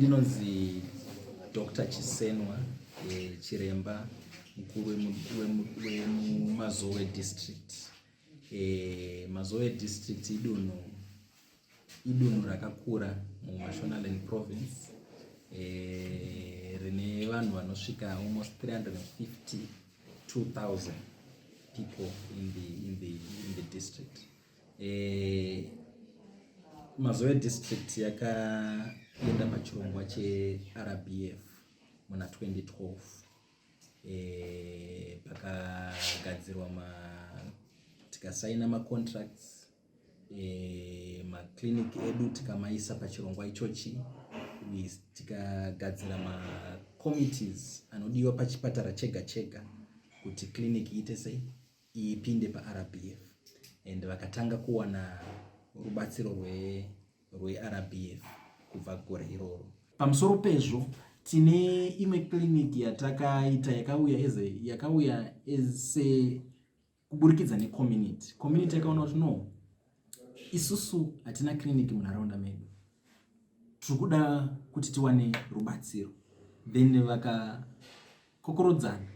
Ndinonzi Dr. Chisenwa eh, chiremba mukuru wemumazowe district. Eh, mazowe district idunhu idunhu rakakura mumashonaland province eh, rine vanhu vanosvika almost 352,000 people in the, in the, in the district. Eh, Mazowe district yakaenda pachirongwa cheRBF muna 2012 eh, pakagadzirwa ma tikasaina macontracts eh, maclinic edu tikamaisa pachirongwa ichochi tikagadzira macommittees anodiwa pachipatara chega chega kuti clinic iite sei ipinde paRBF and vakatanga kuwana rubatsiro rweRBF kubva gore iroro. Pamusoro pezvo tine imwe clinic yatakaita yakauya eze yakauya ese kuburikidza necommunity community yakaona kuti no isusu hatina clinic munharaunda medu tiri kuda kuti tiwane rubatsiro then vaka Kokorodzana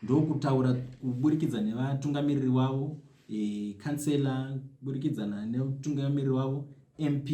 ndokutaura kuburikidza nevatungamiriri wavo e, kansela kuburikidzana nemutungamiriri wavo mp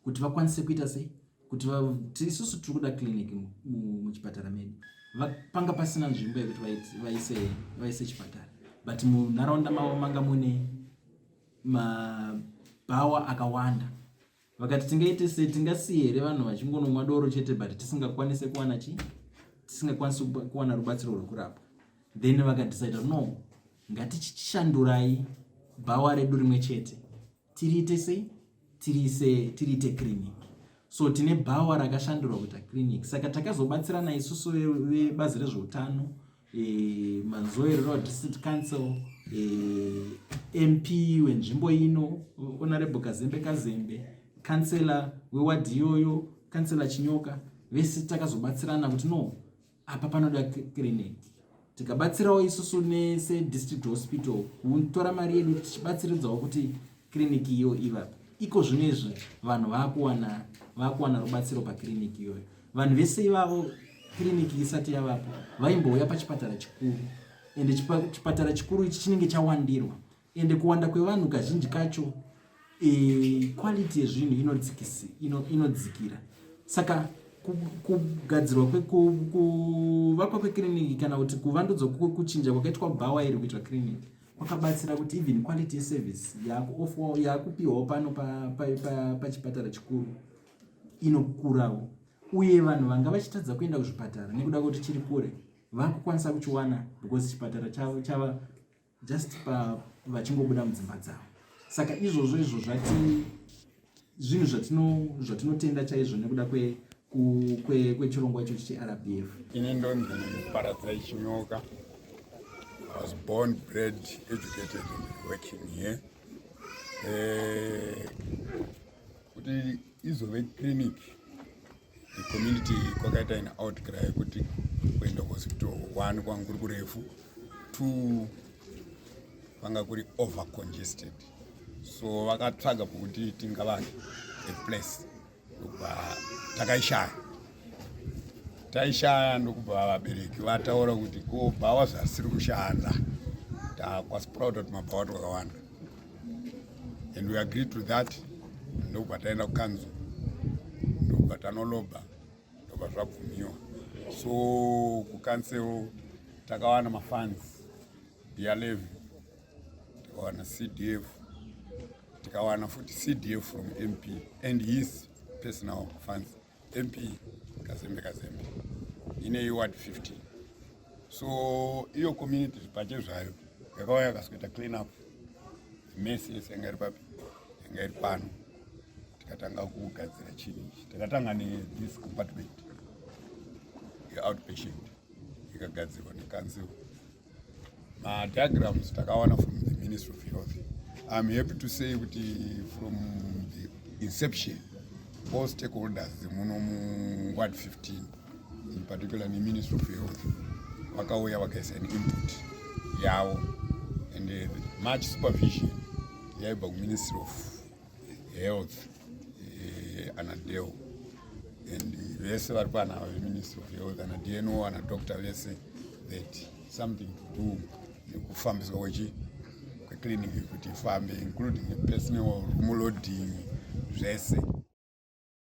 kuti vakwanise kuita sei kuti isusu tiri kuda clinic muchipatara medu panga pasina nzvimbo yekuti vaise vaise chipatara but munharaunda mavo manga mune mabhawa akawanda vakati tingaite sei tingasiye here vanhu vachingonomwa doro chete but tisingakwanise kuwana chii tisingakwanisi kuwana rubatsiro rwekurapwa then vakadecida no ngatichishandurai bhawa redu rimwe chete tiriite sei tiriise tiriite clinic so tine bhawa rakashandurwa kuita clinic saka takazobatsirana isusu vebazi rezveutano e, mazoerero district council e, mp wenzvimbo ino honorable kazembe kazembe kansela wewadhi iyoyo kansela chinyoka vese takazobatsirana kuti no apa panoda clinic tikabatsirawo isusu nese district hospital kutora mari yedu tichibatsiridzawo kuti clinic iyo ivapo iko zvino izvi vanhu vakuwana vakuwana rubatsiro pakiriniki iyoyo Vanhu vese ivavo kiriniki isati yavapo vaimbouya pachipatara chikuru ende chipatara chikuru ichi chinenge chawandirwa ende kuwanda kwevanhu kazhinji kacho e, quality yezvinhu inodzikisi ino, inodzikira saka kugadzirwa kuvakwa kwekiriniki kana kuti kuvandudzwa kuchinja kwakaitwa bhawa iri kuitwa kiriniki kwakabatsira kuti even quality yeservice yakupiwawo pano pachipatara chikuru inokurawo uye vanhu vanga vachitadza kuenda kuzvipatara nekuda kwekuti chiri kure vakukwanisa kuchiwana because chipatara chavo chava just pa vachingobuda mudzimba dzavo saka izvozvo izvo zvati zvinhu zvatinotenda chaizvo nekuda kwechirongwa kwe, kwe ichochi cherbf ini ndonzi paradzai chinyoka was born bred educated working here eh, kuti izove clinic community kwakaita an outcry kuti kuenda kuhospital one kwanga kuri kurefu two kwanga kuri over congested so vakatsvaga pokuti tingavake a place ndokubva takaishaya taishaya ndokubva vabereki vataura kuti ko bhawa zvasiri kushanda takwasproud kuti mabhawa twakawanda and we agree to that ndokubva taenda kukanzo ndokubva tanoloba ndokubva zvabvumiwa so kukansel takawana mafans bialev tikawana cdf tikawana futi cdf from mp and his personal fans MP Kazembe Kazembe ine iward 50 so iyo community zvipache zvayo yakauya yakazoita clean up mesi yese yanga iri papi yanga iri pano tikatanga kugadzira chini ichi takatanga nethis compartment yeoutpatient ikagadzirwa nekansil Uh, diagrams takawana from the Ministry of Health. I'm happy to say kuti from the inception all stakeholders muno mu ward 15 in particular the Ministry of Health vakauya vakaisa an input yavo and uh, much supervision yaibva ku Ministry of health eh, anadeo and vese vari pano ava veministry of health ana dno ana doctor vese that something to do nekufambiswa kwechi kweclinic kuti ifambe including personal rumu loading zvese